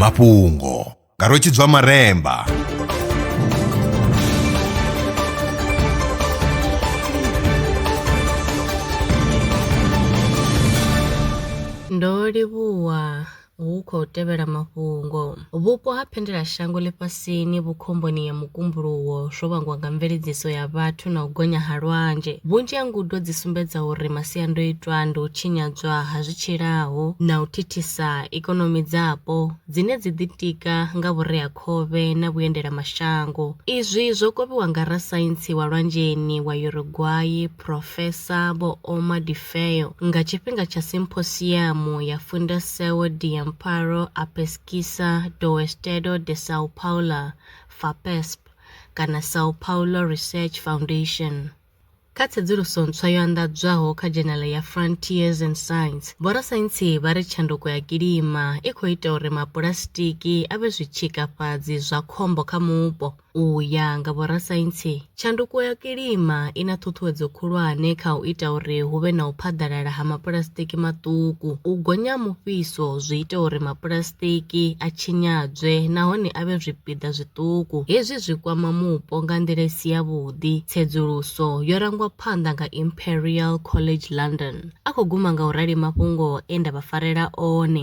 mafhungo nga rwetshidzwa maremba ndo livhuwa hu khou tevhela mafhungo Vhupo ha phendelashango ḽifhasini vhu khomboni ya mukumbuluwo zwo vhangwa nga mveledziso ya vhathu na u gonya ha lwanzhe. Vhunzhi ha ngudo dzi sumbedza uri masiandoitwa ndi u tshinyadzwa ha zwi tshilaho na u thithisa ikonomi dzapo dzine dzi ḓitika nga vhureakhovhe na vhuendelamashango. Izwi zwo kovhiwa nga rasaintsi wa lwanzheni wa Uruguay, Profesa Vho Omar de Orfeo nga tshifhinga tsha Simposiamu ya Fundação de Amparo à Pesquisa do Estado de São Paulo, FAPESP, kana São Paulo Research Foundation. Kha tsedzuluso ntswa yo anḓadzwaho kha dzhenala ya Frontiers in Science, vhorasaintsi vha ri tshanduko ya kilima i khou ita uri mapulasitiki a vhe zwitshikafhadzi zwa khombo kha mupo. U ya nga vhorasaintsi, tshanduko ya kilima i na ṱhuṱhuwedzo khulwane kha u ita uri hu vhe na u phaḓalala ha mapulasitiki maṱuku. U gonya ha mufhiso zwi ita uri mapulasitiki a tshinyadzwe nahone a vhe zwipiḓa zwiṱuku. Hezwi zwi kwama mupo nga nḓila i si yavhuḓi. Tsedzuluso yo rangwa phanḓa nga Imperial College London. A khou guma nga u rali mafhungo e nda vha farela one.